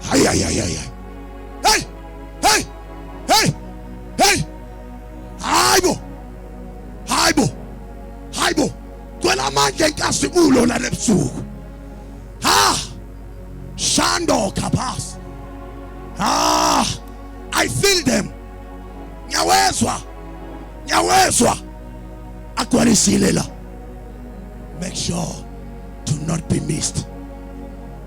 hayayayahay hey hey hey hey hayibo hayibo hayibo cela amandla enkazimulo lana ebusuku ha shando kapas ha i feel them ngiyawezwa ngiyawezwa agcwalisile la make sure to not be missed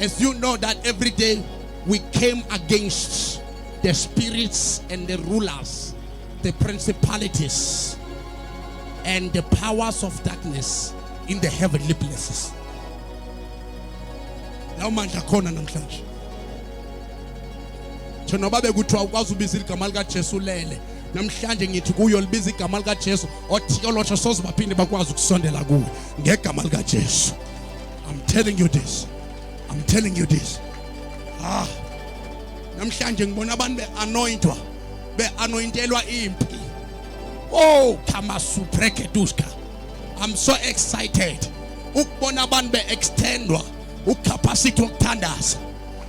As you know that every day we came against the spirits and the rulers, the principalities and the powers of darkness in the heavenly places. Lawo mandla khona namhlanje. Thinoba bekuthiwa ukwazi ubiza igama lika Jesu lele. namhlanje ngithi kuyo libiza igama likaJesu othiyolosho soze baphinde bakwazi ukusondela kuwe ngegama likaJesu I'm telling you this. I'm telling you this. Ah. Namhlanje ngibona abantu beanointwa, beanointelwa impi. Oh, kama supreketuska. I'm so excited. Ukubona abantu beextendwa ucapacity wokuthandaza.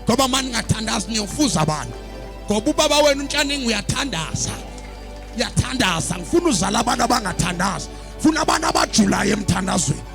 Ngoba manje ngathandaza niyofuza abantu. Ngoba ubaba wenu uNtshaningi uyathandaza. Uyathandaza. Ngifuna uzala abantu abangathandazi. Funa abantu abajulayo emthandazweni.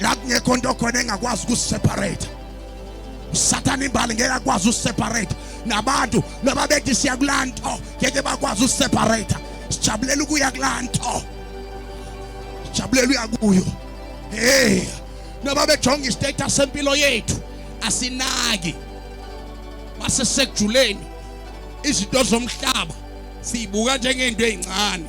la kungekho nto khona engakwazi ukuseparate usathane imbali ngeke akwazi useparate nabantu noma bethi siya kulaa nto ngeke bakwazi useparate sijabulela ukuya kulaa nto sijabulela uya kuyo hey noma bejonga istatus sempilo yethu asinaki masesejuleni izinto zomhlaba siyibuka njengento ezincane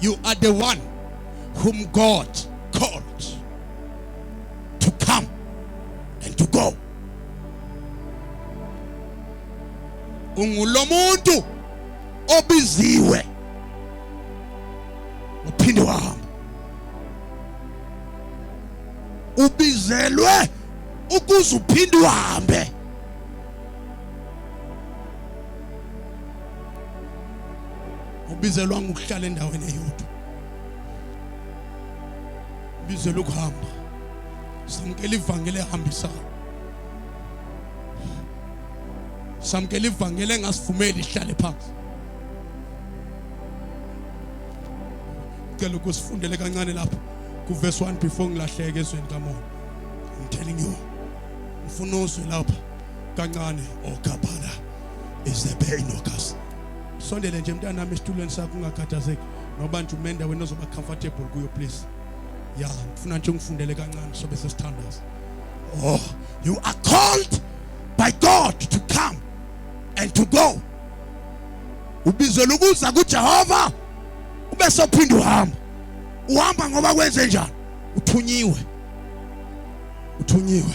You are the one whom God called to come and to go. Ungulomuntu obiziwe uphinde wahamba. Ubizelwe ukuze uphinde uhambe. ubizelwa ngokuhlala endaweni eyodwa ubizelwa ukuhamba samkela ivangeli ehambisayo samkela ivangeli engasivumeli ihlale phansi ngicela ukusifundele kancane lapho kuverse 1 before ngilahleke ezweni kamoya i'm telling you ngifuna uzwe lapha kancane ogabhala oh, is the pain of us sondele nje mntanami esitulweni sakho ungakhathazeki noba nje umenda wena ozoba comfortable kuyo please ya ngifuna nje ungifundele kancane sobe sesithandaza oh you are called by god to come and to go ubizelwa ukuza kujehova ube sophinde uhamba uhamba ngoba kwenze njani uthunyiwe uthunyiwe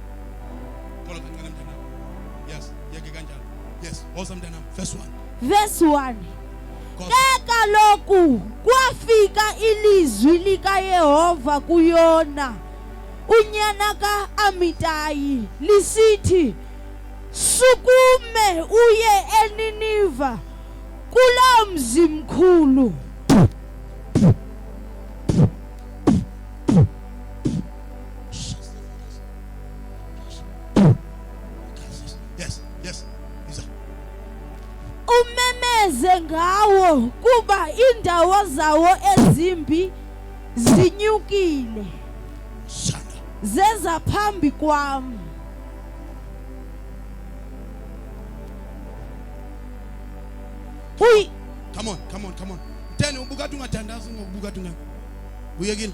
Thola kancane mntana. Yes, yeke kanjalo. Yes, woza mntana. First one. Verse 1. Cause Ke kaloku kwafika ilizwi likaYehova kuyona unyana kaAmitayi lisithi sukume uye eNiniva kulaa mzi mkhulu umemeze ngawo kuba indawo zawo ezimbi zinyukile zeza phambi kwami Uy come on come on come on mtene ubukade ungathandazi ngokubuka tunga uyekile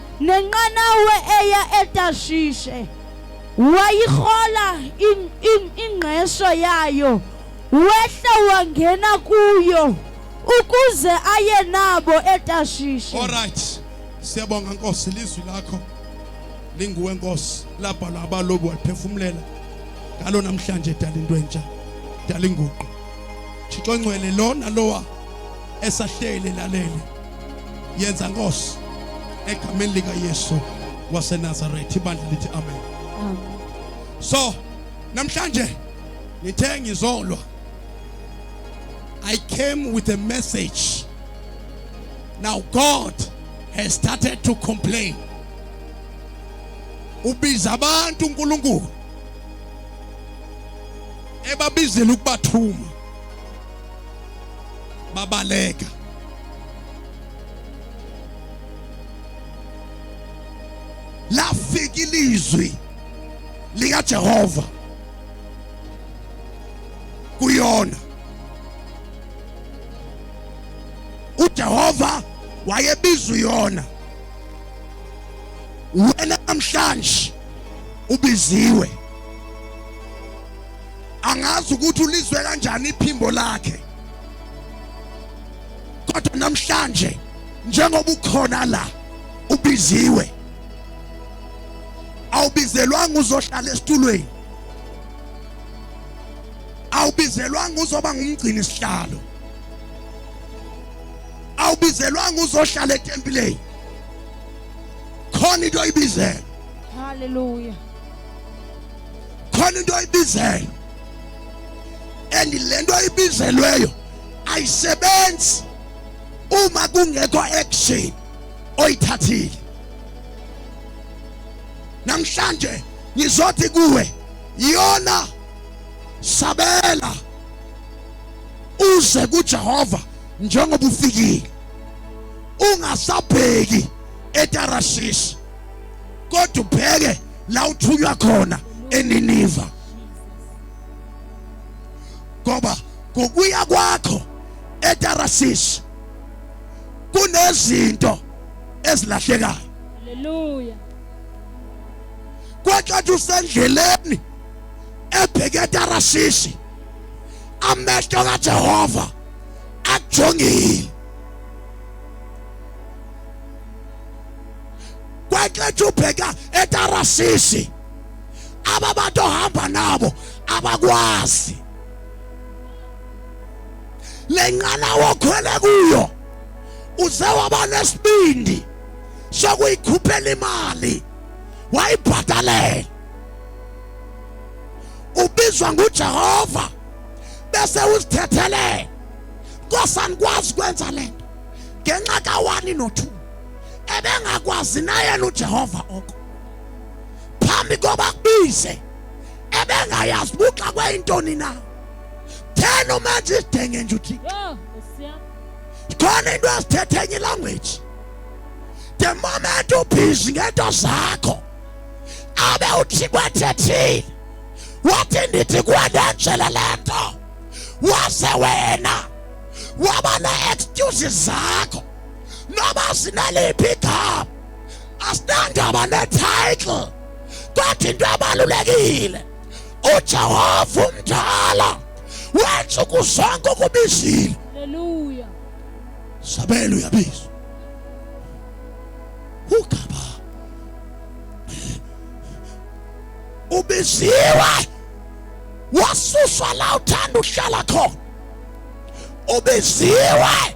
nenqanawe eya etashishe wayihola ingqesho yayo wehla wangena kuyo ukuze aye nabo etashishe all right siyabonga nkosi lizwi lakho linguwe nkosi labhalwa abalobi waliphefumulela ngalo namhlanje dala into entsha dala inguqu thixo ncwele lona lowa esahlele lalele yenza Nkosi egameni lika Yesu waseNazareth ibandla lithi amen so namhlanje ngithe ngizolwa I came with a message now God has started to complain ubiza abantu uNkulunkulu ebabizela ukubathuma babaleka lafika ilizwi likaJehova kuyona uJehova wayebiza uyona wena namhlanje ubiziwe angazi ukuthi ulizwe kanjani iphimbo lakhe kodwa namhlanje njengoba ukhona la ubiziwe awubizelwanga uzohlala esitulweni awubizelwanga uzoba ngumgcini sihlalo awubizelwanga uzohlala etempileni khona into oyibizelwe haleluya khona into oyibizelwe and lento oyibizelweyo ayisebenzi uma kungekho action oyithathile namhlanje ngizothi kuwe yona sabela uze kuJehova njengoba ufikile ungasabheki eTarashish kodwa ubheke la uthunywa khona eNiniva ngoba ngokuya kwakho eTarashish kunezinto ezilahlekayo haleluya kwathi usendleleni ebheke eTarashish amehlo kaJehova akujongile kwexetsha ubheka etarasisi aba bantu ohamba nabo abakwazi le nqanawa okhwele kuyo uze waba nesibindi sokuyikhuphela imali wayibhadalela ubizwa nguJehova bese usithethelela nkosani kwazi kwenza lento ngenxa kawani no2 ebengakwazi nayena uJehova oko phambi koba kubize ebengayazi buxa kwayintoni na thena umenza isidenge nje uthi khona into azithethe enye language the moment ubhizi ngento zakho abe uthi kwathethile wathi ndithi kwanenjela le nto wase wena waba ne-excuses zakho noma sinaliphi igama asinandaba ne-title kodwa into ebalulekile ujehova umdala wenza ukuzonke okubizile haleluya sabela uyabizwa ugaba ubiziwe wasuswa la uthanda uhlala khona ubiziwe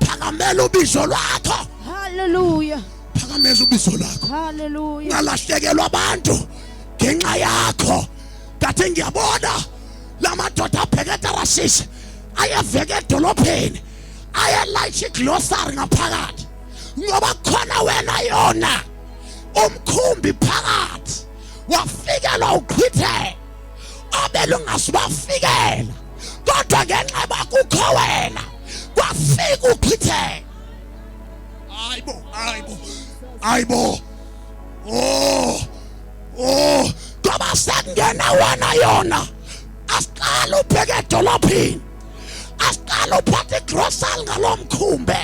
phakamela ubizo lwakho haleluya phakameza ubizo lakho haleluya ngalahlekelwa abantu ngenxa yakho ngathi ngiyabona lamadoda abheke etarashishe ayeveke edolopheni ayelayisha iglosari ngaphakathi ngoba khona wena yona umkhumbi phakathi wafikelwa uchitheke obelungasibafikela kodwa ngenxa bakukho wena kwafika uphithela hayibo hayibo hayibo oh oh ngoba sekungena wena yona asiqala ubheke edolophini asiqala uphathe igrosali ngalo mkhumbe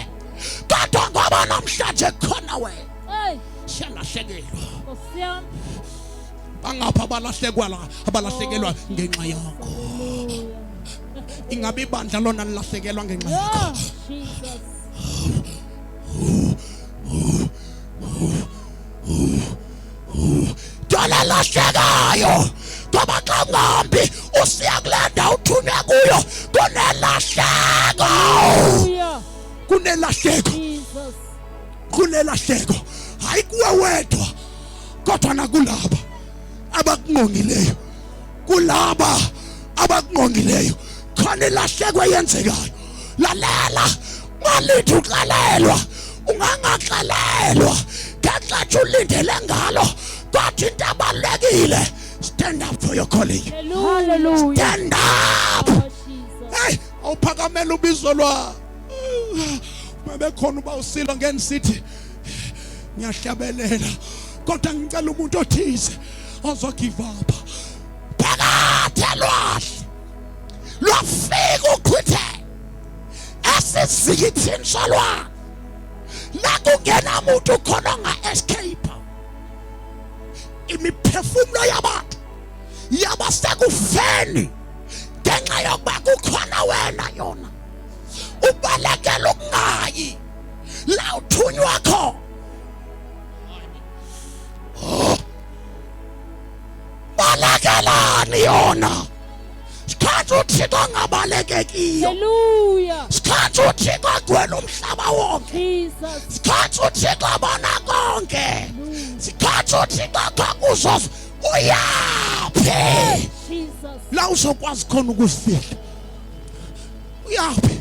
kodwa ngoba namhlanje kukhona wena shela shekelwa bangapha abalahlekwa la abalahlekelwa ngenxa yakho ingabe ibandla lona lilahlekelwa ngenxa yakho dala lahlekayo ngoba xa ngambi usiya kule ndawo uthune kuyo kunelahleko kunelahleko kunelahleko hayi kuwe wedwa kodwa nakulaba abakungongileyo kulaba abakungongileyo khona ilahleko eyenzekayo lalela malithi uxelelwa ungangaxelelwa ngenxa nje ulindele ngalo kodwa into abalulekile stand up for your calling hallelujah stand up hey awuphakamela ubizo lwa uma bekhona uba usilo ngeni sithi ngiyahlabelela kodwa ngicela umuntu othize ozogive up phakade lwahle lwafika uchithe esizikithini solwana la kungena muntu khona onga-escape imiphefumulo yabantu yaba sekufeni ngenxa yokuba kukhona wena yona ubalekela ukungayi la uthunywa kho balekelani yona sikhathi uthixo angabalekekiyo Hallelujah. sikhathi uthixo agcwele umhlaba wonke Jesus. sikhathi uthixo abona konke sikhathi uthixo akhakuzoz uyaphi Jesus. la uzokwazi khona ukuzifihla uyaphi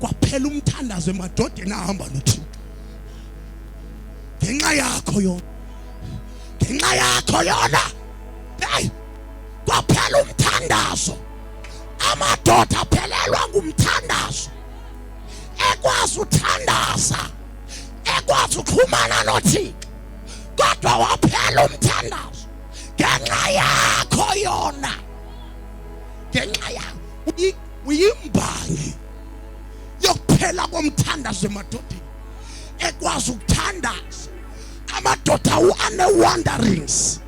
kwaphela umthandazo emadodeni ahamba nothixo ngenxa yakho yona ngenxa yakho yona hey kwaphela umthandazo amadoda aphelelwa ngumthandazo ekwazi uthandaza ekwazi uxhumana nothixo kodwa waphela umthandazo ngenxa yakho yona ngenxa yakho Uyimbangi yokuphela komthandazo emadodeni ekwazi ukuthandaza amadoda ane wanderings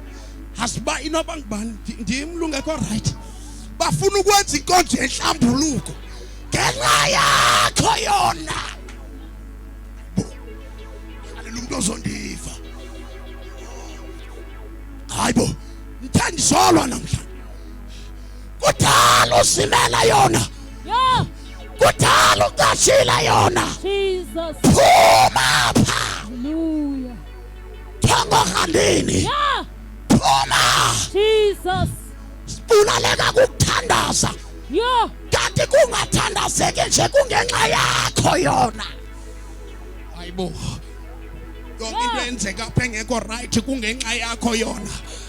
asiba inoba ngubani ndimlungekho right bafuna ukwenza inkonzo yenhlambuluko ngenxa yakho yona halela umuntu ozondiva hayibo ngithe ndisolwa namhlanje kudala uzimela yona kudala ugashila yona phuma pha thongo khandini phuma sibulaleka kukuthandaza kanti kungathandazeki nje kungenxa yakho yona hayibo yonke into enzeka apha engekho rayithi kungenxa yakho yona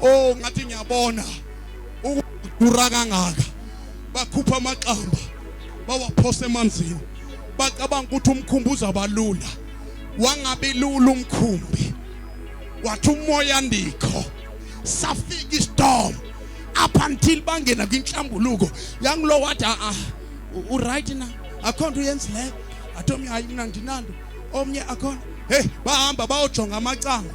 oh ngathi ngiyabona ukudura kangaka bakhupha amaqamba bawaphosa emanzini bacabanga ukuthi umkhumbi uzabalula wangabe lula umkhumbi wathi umoya ndikho safika istorm up until bangena kwinhlambuluko yangulo wathi a ah, ah, u right na akho nto uyenzi leyo athi omnye hayi mna ndinanto omnye akhona heyi bahamba bayojonga amacango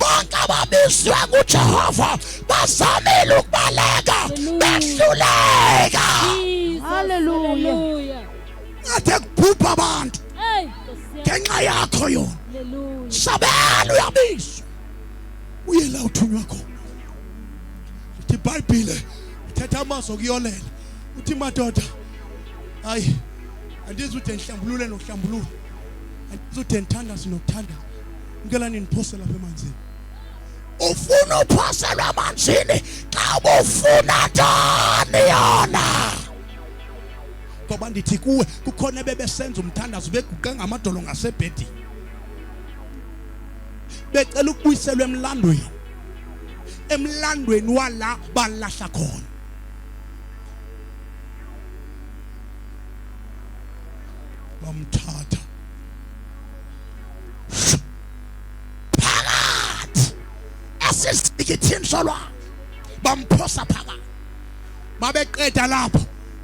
bonke ababizwe nguJehova bazamile ukubaleka behluleka haleluya athe kubhubha abantu ngenxa yakho yona sabela uyabizwa uye la uthunywa khona uthi ibhayibhile uthetha amazwi okuyolela uthi madoda hayi andizude ngihlambulule nokuhlambulula andizude ngithandaze nokuthandaza ngicela ningiphose lapha emanzini ufuna uphoselwa emanzini xa ubufuna njani yona ngoba ndithi kuwe kukhona ebebesenza umthandazo beguqe ngamadolo ngasebhedini becela ukubuyiselwa emlandweni emlandweni wala balahla khona bamthatha phakathi esizikithini solwandle bamphosa phakathi babeqeda lapho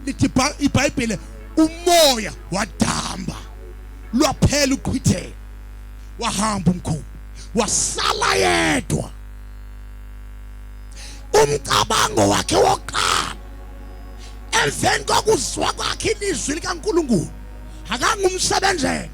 lithi ibhayibhile umoya wadamba lwaphela uqhithela wahamba umkhulu wasala yedwa umcabango wakhe wokuqala emveni kokuzwa kwakhe ilizwi likaNkuluNkulu akangumsebenzela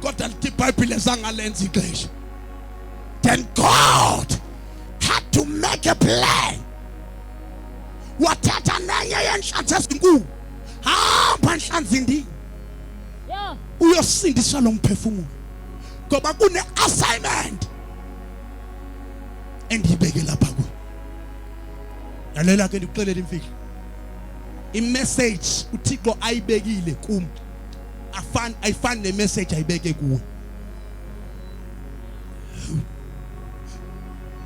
kodwa lithi ibhayibhile zangalenza ixesha then god had to make a plan wathatha nenye yenhlanzi ezinkulu hamba nhlanzi ndini uyosindisa lo mphefumulo ngoba kune-assignment engiyibeke lapha kuyo lalela ke ndikuxelela imfihlo imeseji uthixo ayibekile kum afani ayifani ne message ayibeke kuwe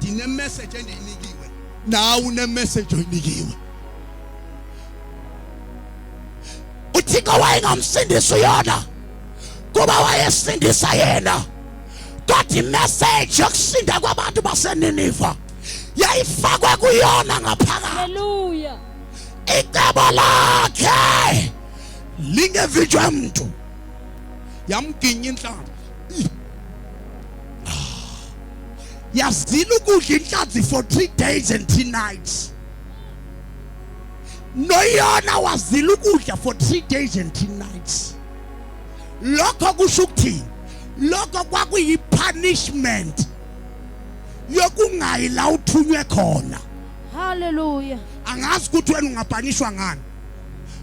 dine message endiyinikiwe nawe une message oyinikiwe uthixo wayengamsindisi uyona kuba wayesindisa yena kodwa imessage yokusinda kwabantu baseniniva yayifakwe kuyona ngaphakathi icebo lakhe lingevitshwa mntu yamginya inhlanzi yazila ukudla inhlanzi for three days and three nights noyona wazila ukudla for three days and three nights lokho kusho ukuthini lokho kwakuyipunishment yokungayi la uthunywe khona haleluya angazi ukuthi wena ungapanishwa ngani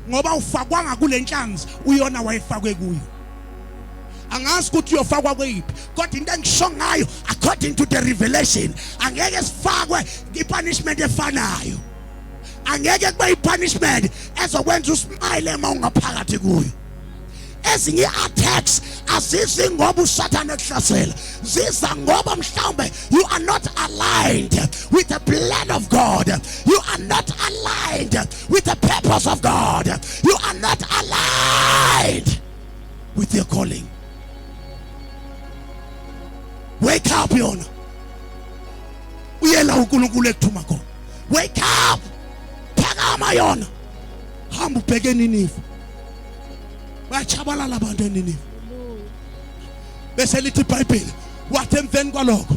ngoba ufakwanga kule nhlanzi uyona wayefakwe kuyo angazi ukuthi uyofakwa kweyiphi kodwa into engisho ngayo according to the revelation angeke sifakwe ipunishment efanayo angeke kube ipunishment ezokwenza usmile uma ungaphakathi kuyo ezinye i-attacks azizi ngoba usathane ekuhlasela ziza ngoba mhlawumbe you are not aligned with the plan of god you are not aligned with the purpose of god you are not aligned with your calling wake up yona uyela unkulunkulu ekuthuma khona wake up phakama yona hamba ubheke niniva bayachabalala abantu eniniwe bese lithi ibhayibheli wathi emveni kwalokho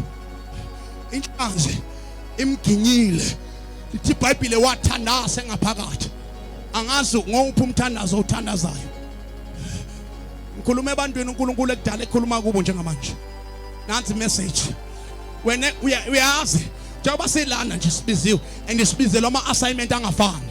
inhlanzi imginyile lithi ibhayibhile wathandaza engaphakathi angazi ngowuphi umthandazo othandazayo ngikhuluma ebantwini uNkulunkulu ekudala ekhuluma kubo njengamanje nansi message wena uyazi njengoba silana nje sibiziwe and sibizelwa ama assignment angafani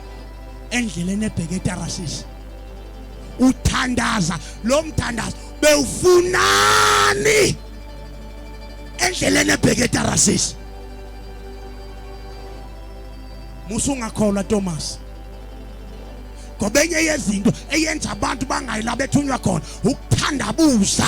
endleleni ebheke eTarasisi uthandaza lo mthandazo bewufunani endleleni ebheke eTarasisi musungakholwa Thomas ngoba enye yezinto eyenza abantu bangayi la bethunywa khona ukuthandabuza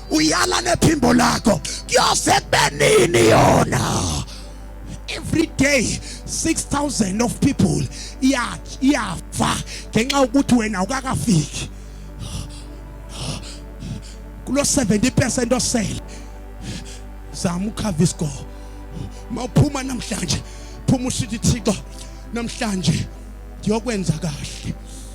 uyala nephimbo lakho kuyoze benini yona every day 6000 of people iyafa ngenxa ukuthi wena ukakafiki kulo 70% osele zama ukhava isgo mawuphuma namhlanje phuma usithi thixo namhlanje ngiyokwenza kahle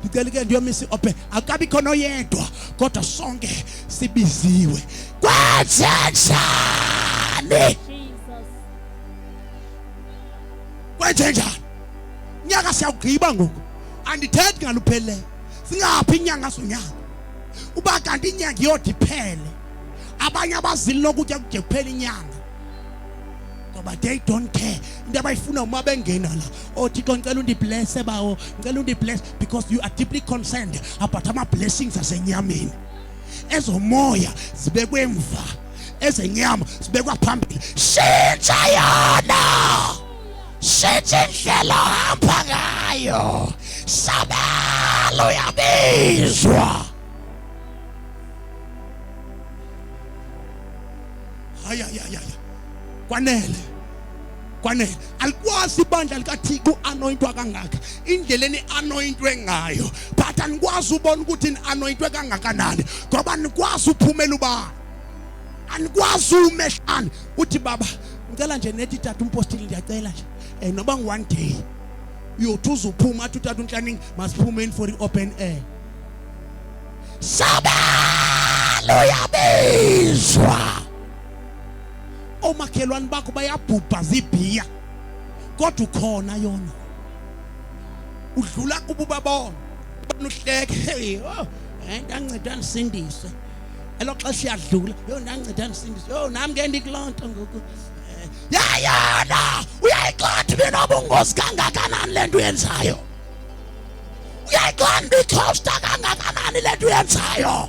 ndicela ke ndiyomisa iophe akabi khona oyedwa kodwa sonke sibiziwe kwenzenjani kwenzenjani nyaka siyawugqiba ngoku andithethi ngaluphelileyo singaphi inyanga sonyaka uba kanti inyanga iyodiphele abanye abazili lokutya kude kuphela inyanga ngoba they don't care into abayifuna uma bengena la oh thixo ngicela undiblesse bawo ngicela undibless because you are deeply concerned about ama-blessings asenyameni ezomoya zibekwe emva ezenyama zibekwa phambili shintsha yona shintsha indlela ohamba ngayo sabelo uyabizwa hayi hayi hayi kwanele kwanele alikwazi ibandla likathixo u-anoyintwa kangaka indlela eni-anoyintwe ngayo but anikwazi ubona ukuthi ni-anoyintwe kangakanani ngoba nikwazi uphumela ubani anikwazi umehlani uthi baba ngicela nje nethi tata umpostile ndiyacela nje um noba ngu-one day uyothi uzuphuma athi utata unhlaningi masiphumeni for i-open air sabalo yabizwa omakhelwane bakho bayabhubha zibhiya kodwa ukhona yona udlula kubo babona banuhleke hey oh ndanceda nisindise elo xesha iyadlula yo ndanceda nisindise yo nami ke ndikulonto ngoku eh, yayona uyayixothi mina obungozi kangakanani le nto uyenzayo uyayixothi ndikhosta kangakanani le nto uyenzayo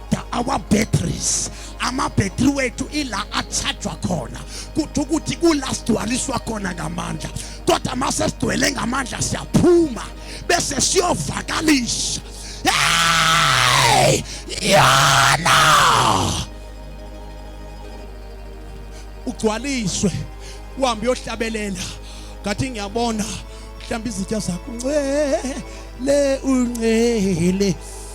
our batteries amabhetri wethu ila achajwa khona kuthi ukuthi kula sigcwaliswa khona ngamandla kodwa uma sesigcwele ngamandla siyaphuma bese siyovakalisa hey yana ugcwaliswe uhambe uyohlabelela ngathi ngiyabona mhlawumbe izitya zakho uncele uncele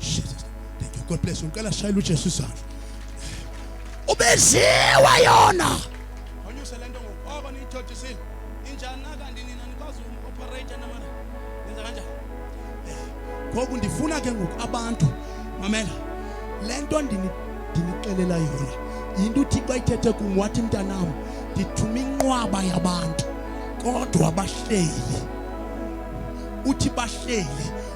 Jesus. Thank you. God bless you. Ngicela shayela uJesu isandla. Ubeziwa yona. Onyuse lento ngoba niyithotisile. Injani kanti nina nikwazi uku-operate namana. Yenza kanjani? Ngoku ndifuna ke ngoku abantu mamela lento ndini ndinixelela yona yinto uthixo ayithethe kum wathi mntanam ndithuma inqwaba yabantu kodwa bahleli uthi bahleli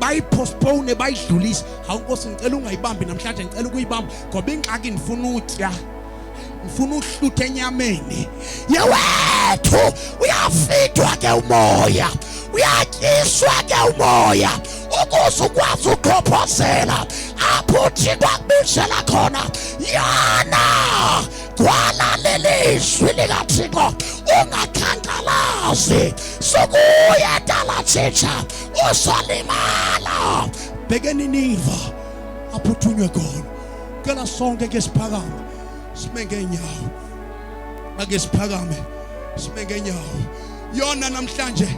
bayipostpone bayidlulise hawu nkosi ngicela ungayibambi namhlanje ngicela ukuyibamba ngoba ingxaki ngifuna utya ngifuna uhluthe enyameni yewethu uyafidwa ke umoya uyatyiswa ke umoya ukuze ukwazi ukhophozela apho uthixo akubizela khona yana gwala lelizwi likathixo ungakhankalazi sokuya dala thitsha uzolimala bhekeni niva aphuthunywe khona ngicela sonke ke siphakame sime ngenyawo ake siphakame sime ngenyawo yona namhlanje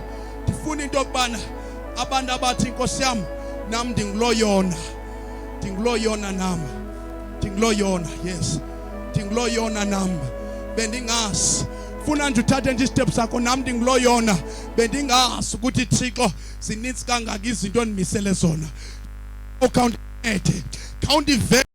ndifuna into yokubana abantu abathi inkosi yami nam ndingulo yona ndingulo yona nam ndingulo yona yes ndingulo yona nam bendingazi funa nje uthathe nje istep sakho nam ndingulo yona bendingazi ukuthi Thixo zininzi kangaka izinto endimisele zona ukhawundincede khawundivele